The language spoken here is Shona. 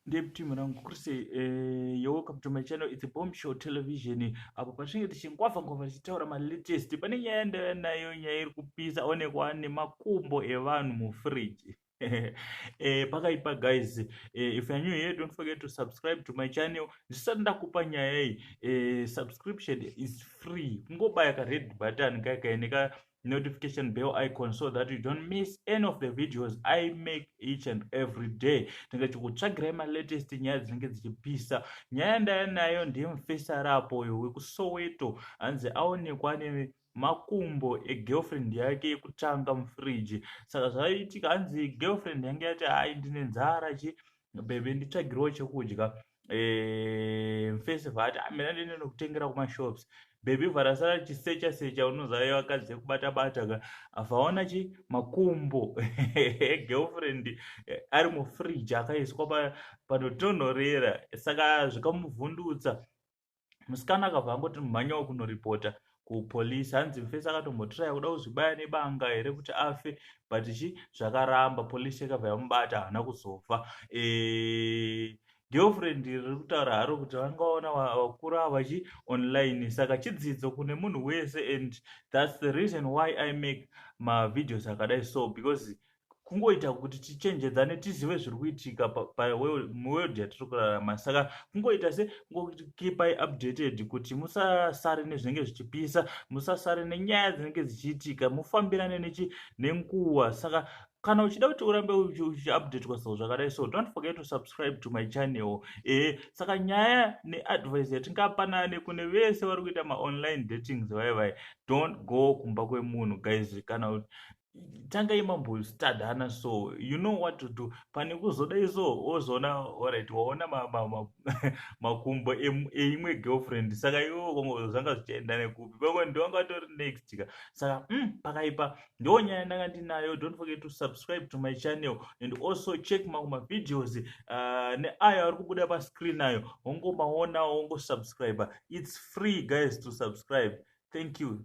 Dev team rangu kuri sei eh, you're welcome to my channel it's a bomb show television apo patinenge tichingwavha ngwavha tichitaura malatest pane nyaya yandaiva nayo nyaya iri kupisa onekwa nemakumbo evanhu mufridge eh, pakaipa guys eh, if you're new here don't forget to subscribe to my channel ndisati ndakupa nyaya iyi eh, subscription is free kungobaya ka red button kakaeneka notification bell icon so that you don't miss any of the videos i make each and every day tinenge tichikutsvagirai malatest nyaya dzinenge dzichipisa nyaya ndaya nayo ndiye mufesara apo uyo wekusoweto hanzi aonekwa ane makumbo egirlfriend yake yekutanga mufriji saka zvaiitika hanzi girlfriend yange yati hai ndine nzara chii bebe nditsvagirwo chekudya eh, mfesi vati amina ah, ndineno kutengera kumashops bebe varasara chisecha secha unozave vakadzi yekubata bata ka vaona chi makumbo girlfriend eh, ari mufridge akaiswa panotonhorera saka zvikamuvhundutsa musikana akabva angoti mhanyawo kunoripota kupolice hanzi mfesi akatombotiraya kuda kuzvibaya nebanga here kuti afe but chi zvakaramba police yakabva yamubata haana kuzofa e girlfriend riri kutaura haro kuti vangaona vakura vachi online saka chidzidzo kune munhu wese and thats the reason why i make mavideos akadai so because kungoita kuti tichenjedzane tizive zviri kuitika muworld yatiri kurarama saka kungoita se ngokipai updated kuti musasare nezvinenge zvichipisa musasare nenyaya dzinenge dzichiitika mufambirane nechi nenguva saka kana uchida kuti urambe uchiupdatwa so zvakadai so don't forget to subscribe to my channel ee eh, saka nyaya neadvice yatingapanane kune vese vari kuita maonline datings vaye vaye don't go kumba kwemunhu guys kana tangai mambostadhana so you know what to do pane kuzodai so wozoona orit waona makumbo eimwe girlfriend saka iwo kongo zvanga zvichienda nekupi kongo ndiwanga atori next ka saka mm, pakaipa ndiwo nyaya ndanga ndinayo don't forget to subscribe to my channel and also check mangu mavideos uh, neayo ari kubuda pascreen ayo wongomaonawo wongosubscribe its free guys to subscribe thank you